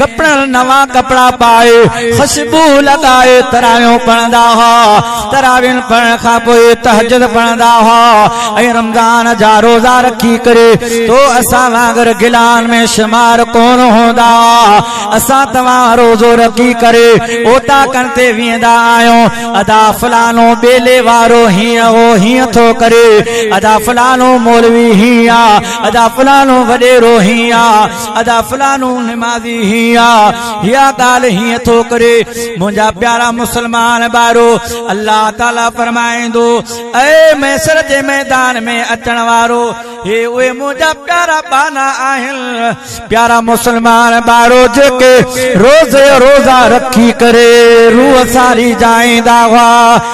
ڪپڙن نوان ڪپڙا پائي، خوشبو لڳائي تراويحون پڙهندا هئا. تراويحن پڙهڻ کان پوء تهجد پڙهندا هئا ۽ رمضان جا روزا رکي ڪري تو اسان وانگر گلان ۾ شمار ڪون هوندا. اسان توهان روزو رکي ڪري اوطاقن تي ويندا آهيون. ادا فلانو ٻيلي وارو هيئن هو هيئن ٿو ڪري. ادا فلانو مولوي هيئن آ. ادا فلانو وڏيرو هيئن آ. ادا فلانو نمازي هين آ هيا ڳالهه هين ٿو ڪري منهنجا پيارا مسلمان ڀائرو الله تعالي فرمائيندو اي محشر جي ميدان ۾ اچڻ وارو هي اهي منهنجا پيارا ٻانها آهن پيارا مسلمان ڀائرو جيڪي روزي روزا رکي ڪري روح ساري جائيندا هئا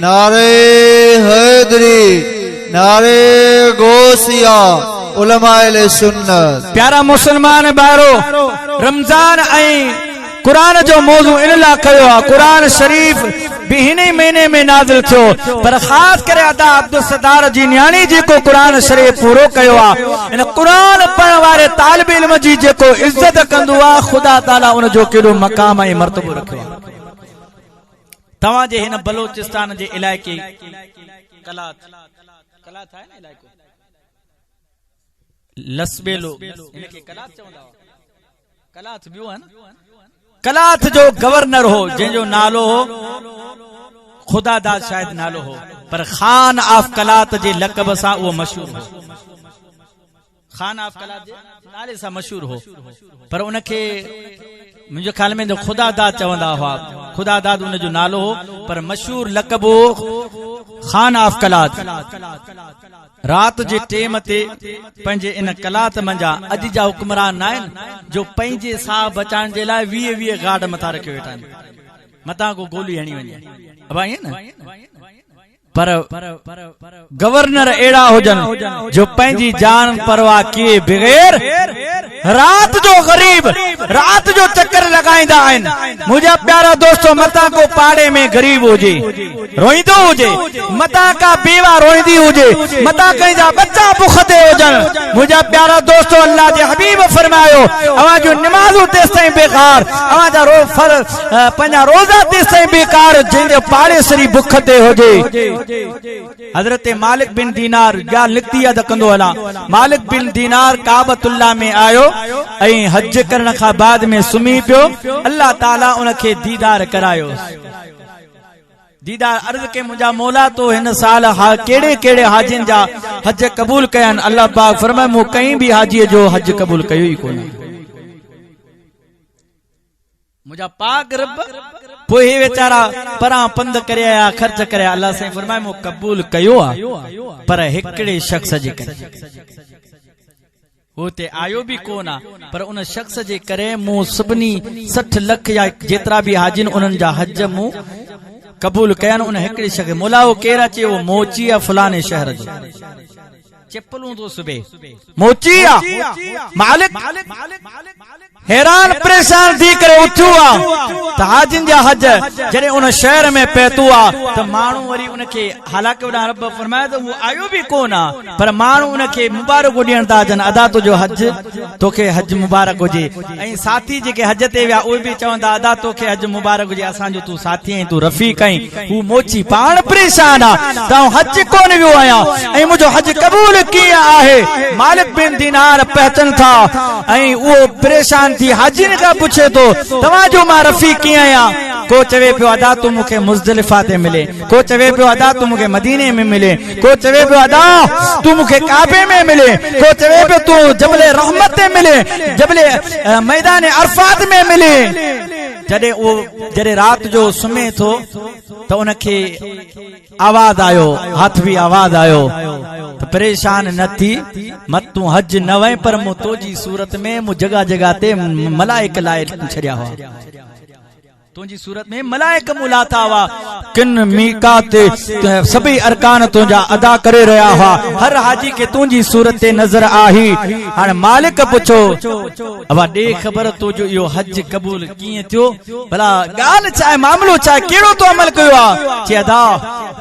نعري حيدري، نعري غوثيه، علماء اهل سنت. پيارا مسلمان ڀائرو! رمضان ۽ قرآن جو موضوع ان لا ڪيو آ، قرآن شريف به هن ئي مهيني ۾ نازل ٿيو، پر خاص ڪري ادا عبدالستار جي نياڻي جيڪو قرآن شريف پورو ڪيو آ، ان قرآن پڙهڻ واري طالب علم جي جيڪو عزت ڪندو آ، خدا تعالي ان جو ڪيڏو مقام ۽ مرتبو رکيو آ. توهان جي هن بلوچستان جي علائقي قلات قلات آهي نه علائقو لسٻيلو هن کي قلات چوندا هئا قلات ٻيو آهي نه قلات جو گورنر هو جنهن جو نالو هو خدا داد شايد نالو هو پر خان آف قلات جي لقب سان اهو مشهور هو خان آف قلات جي نالي سان مشهور هو پر ان کي منهنجي خيال ۾ ته خدا داد چوندا هئا خدا داد ان جو نالو هو پر مشهور لقب هو خان آف قلات رات جي ٽيم تي پنهنجي ان قلات منجا اڄ جا حڪمران نه آهن جو پنهنجي ساهه بچائڻ جي لاء ويهه ويهه گارڊ مٿان رکي ويٺا آهن متان ڪو گولي هڻي وڃي ابا ائين نه پر گورنر اهڙا هجن جو پنهنجي جان پرواهه ڪيئي بغير رات جو غريب رات جو چڪر لڳائيندا آهن منهنجا پيارا دوستو متان ڪو پاڙي ۾ غريب هجي روئيندو هجي متان ڪا بيوه روئيندي هجي متان ڪنهن جا ٻچا بک تي هجن منهنجا پيارا دوستو الله جي حبيب فرمايو اوهان جون نمازون تيستائين بيڪار اوهان جا روز فرض پنهنجا روزا تيستائين بيڪار جنهن جو پاڙيسري بک تي هجي. حضرت مالڪ بن دينار ڳالهه نڪتي آ ته ڪندو هلان. مالڪ بن دينار ڪعبة الله ۾ آيو ۽ حج ڪرڻ کان بعد ۾ سمهي پيو. الله تعالي ان کي ديدار ڪرايوس. ديدار عرض ڪئي منهنجا مولا تو هن سال ڪهڙي ڪهڙي حاجين جا حج قبول ڪيا آهن؟ الله پاڪ فرمايو مون ڪنهن به حاجي جو حج قبول ڪيو ئي ڪونه. منهنجا پاڪ رب پوء هي ويچارا پران پنڌ ڪري آيا خرچ ڪري آيا الله سائين فرمائي مون قبول ڪيو آ پر هڪڙي شخص جي ڪري هو هتي آيو به ڪو نه پر ان شخص جي ڪري مون سڀني سٺ لک يا جيترا به حاجين انهن جا حج مون قبول ڪيا ان هڪڙي شخص مولا هو ڪير اچي هو موچي يا فلاني شهر جو چپلون ٿو سبي موچي آ مالڪ حيران پريشان ٿي ڪري اٿيو آ ته حاجين جا حج جڏهن ان شهر ۾ پهتو آ ته ماڻهو وري ان کي حالانڪه وڏا رب فرمايو ته مون آيو به ڪون آ پر ماڻهو ان کي مبارڪون ڏيڻ ٿا اچن ادا تنهنجو حج توکي حج مبارڪ هجي ۽ ساٿي جيڪي حج تي ويا اهي به چون ٿا ادا توکي حج مبارڪ هجي اسان جو تون ساٿي ۽ تون رفيق آهين هو موچي پاڻ پريشان آ ته آئون حج ڪونه ويو آهيان ۽ منهنجو حج قبول ڪيئن آهي مالڪ بن دينار پهچن ٿا ۽ اهو پريشان ٿي حاجين کان پڇي ٿو توهان جو مان رفيق ڪيئن آهيان ڪو چوي پيو ادا تون مون کي مزدلفه تي ملين ڪو چوي پيو ادا تون مون کي مديني ۾ ملي، ڪو چوي پيو ادا تون مون کي ڪعبي ۾ ملي، ڪو چوي پيو تون جبل رحمت تي ملي، جبل ميدان عرفات ۾ ملي. جڏهن اهو جڏهن رات جو سمهي ٿو ته ان کي آواز آيو، هاٿوي آواز آيو ته پريشان نه ٿي، مت تون حج نه وئين پر مون تنهنجي صورت ۾ مون جڳهه جڳهه تي ملائڪ لائي ڇڏيا هئا. تنهنجي صورت ۾ ملائڪ مون لاٿا هئا، ڪن ميقات تي سڀئي ارڪان تنهنجا ادا ڪري رهيا هئا، هر حاجي کي تنهنجي صورت تي نظر آهي. هاڻ مالڪ پڇيو. ابا ڏي خبر تنهنجو اهو حج قبول ڪيئن ٿيو؟ ڀلا ڳالهه ڇا آهي، معاملو ڇا آهي، ڪهڙو تو عمل ڪيو آهي؟ چي ادا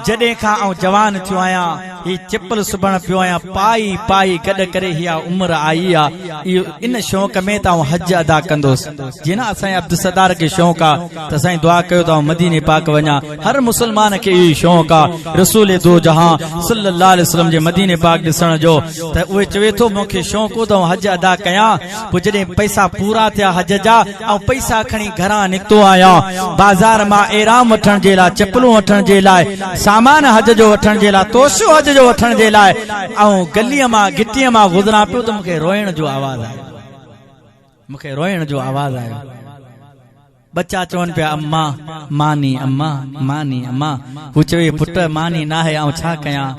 جڏهن کان آئون جوان ٿيو آهيان، هي چپل سبڻ پيو آهيان پائي پائي گڏ ڪري هي عمر آئي آ اهو ان شوق ۾ ته آئون حج ادا ڪندوس جي نه اسان جي عبدالستار کي شوق آ ته سائين دعا ڪيو ته آئون مديني پاڪ وڃان هر مسلمان کي اهو ئي شوق آ رسول دو جهان صلي الله عليه وسلم جي مديني پاڪ ڏسڻ جو ته اهو چوي ٿو مون کي شوق هو ته آئون حج ادا ڪيان پوء جڏهن پئسا پورا ٿيا حج جا آئون پئسا کڻي گهران نڪتو آهيان بازار مان احرام وٺڻ جي لاء چپلون وٺڻ جي لاء سامان حج جو وٺڻ جي لاء توشو حج جو وٺڻ جي لاء آئون گلي مان گهٽي مان گذران پيو ته مون کي روئڻ جو آواز آيو مون کي روئڻ جو آواز آيو ٻچا چون پيا اما ماني اما ماني اما هو چوي پٽ ماني ناهي آئون ڇا ڪيان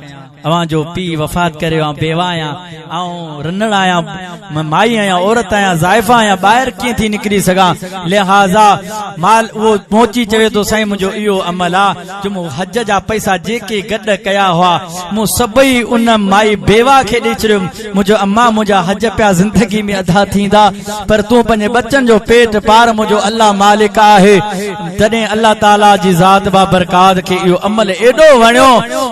اوهان جو پيء وفات ڪري ويو، آئون بيوه آهيان، آئون رنڙ آهيان، مان مائي آهيان، عورت آهيان، زائفه آهيان، ٻاهر ڪيئن ٿي نڪري سگهان؟ لهٰذا مال اهو پهچي چوي ٿو، سائين منهنجو اهو عمل آ جو مون حج جا پئسا جيڪي گڏ ڪيا هئا، مون سڀئي ان مائي بيوه کي ڏئي ڇڏيم، منهنجو امان منهنجا حج پيا زندگي ۾ ادا ٿيندا پر تون پنهنجي ٻچن جو پيٽ پار منهنجو الله مالڪ آهي تڏهن الله تعالي جي ذات بابرڪات کي اهو عمل ايڏو وڻيو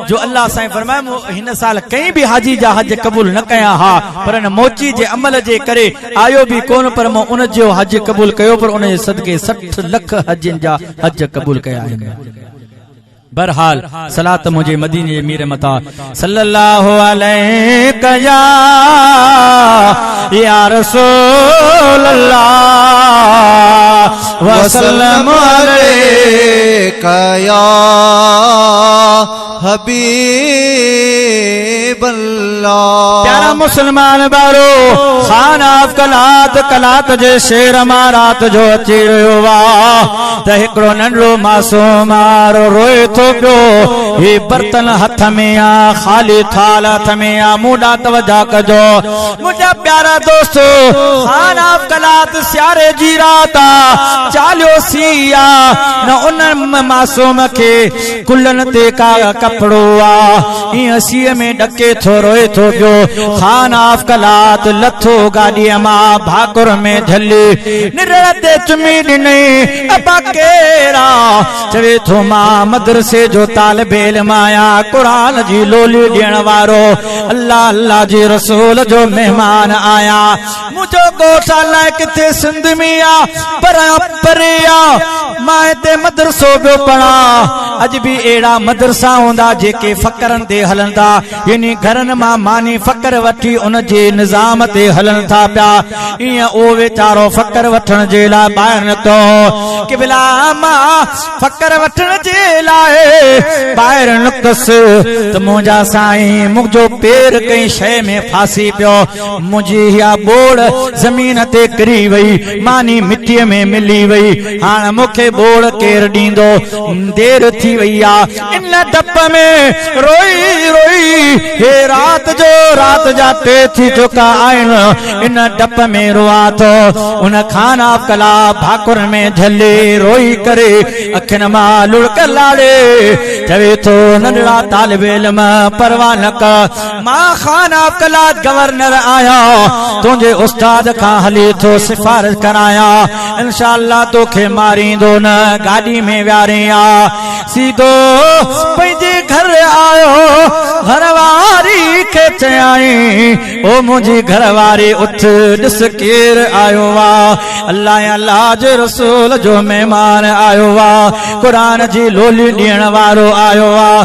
جو الله سائين فرمايو مون هن سال ڪنهن به حاجي جا حج قبول نه ڪيا ها پر ان موچي جي عمل جي ڪري آيو به ڪونه پر مون ان جو حج قبول ڪيو پر ان جي صدقي سٺ لک حاجين جا حج قبول ڪيا آهن بھرحال صلات منھنجي مديني جي مير متان صلّي اللّٰه عليڪ يا يا رسول اللّٰه وسلّم عليڪ يا حبيب اللّٰه پيارا مسلمان ڀائرو خان آف قلات قلات جي شھر مان رات جو اچي رھيو آ ته هڪڙو ننڍڙو معصوم آر روئي ٿو پيو، هي برتن هٿ ۾ آ، خالي ٿال هٿ ۾ آ، مون ڏانهن توجه ڪجو منهنجا پيارا دوستو، خان آف قلات سياري جي رات آ، چاليو سيء آ، نه ان معصوم کي ڪلهن تي ڪاهه ڪپڙو آ، ايئن سيء ۾ ڏڪي ٿو روئي ٿو پيو. خان آف قلات لٿو گاڏيء مان ڀاڪر ۾ جهلي نرڙ تي چمي ڏنئين، ابا ڪير آ؟ چوي ٿو مان مدرسي جو طالب علم آهيان، قرآن جي لولي ڏيڻ وارو، الله الله جي رسول جو مهمان آهيان. منهنجو ڳوٺ الائي ڪٿي سنڌ ۾ آ پر پري آ. مان هتي مدرسو پيو پڙهان. اڄ به اهڙا مدرسا هوندا جيڪي فقرن تي هلن ٿا يعني گهرن مان ماني فقر وٺي ان جي نظام تي هلن ٿا پيا. ايئن اهو ويچارو فقر وٺڻ جي لاء ٻاهر نڪتو هو. قبلا مان فقر وٺڻ جي لاء ٻاهر نڪتس ته منهنجا سائين منهنجو پير ڪنهن شيء ۾ ڦاسي پيو. منهنجي اها ٻوڙ زمين تي ڪري وئي، ماني مٽيء ۾ ملي وئي، هاڻ مون کي ٻوڙ ڪير ڏيندو؟ دير ٿي وئي آ. ان ڊپ ۾ روئي روئي هي رات جو رات جا ٽي ٿي چڪا آهن. ان ڊپ ۾ روئان ٿو. ان کان ڪلا ڀاڪر ۾ جهلي روئي ڪري اکين مان لڙڪ لاڙي چوي ٿو، ننڍڙا طالب علم پرواهه نه ڪر. مان خان آف قلات گورنر آهيان تنهنجي استاد کان هلي ٿو سفارش ڪرايان انشاء الله توکي ماريندو نه گاڏي ۾ ويهارين آ سيدو پنهنجي گهر آيو گهر واري کي چيائين او منهنجي گهر واري اٿ ڏس ڪير آيو آ الله يا الله جي رسول جو مهمان آيو آ قرآن جي لولي ڏيڻ وارو آيو آ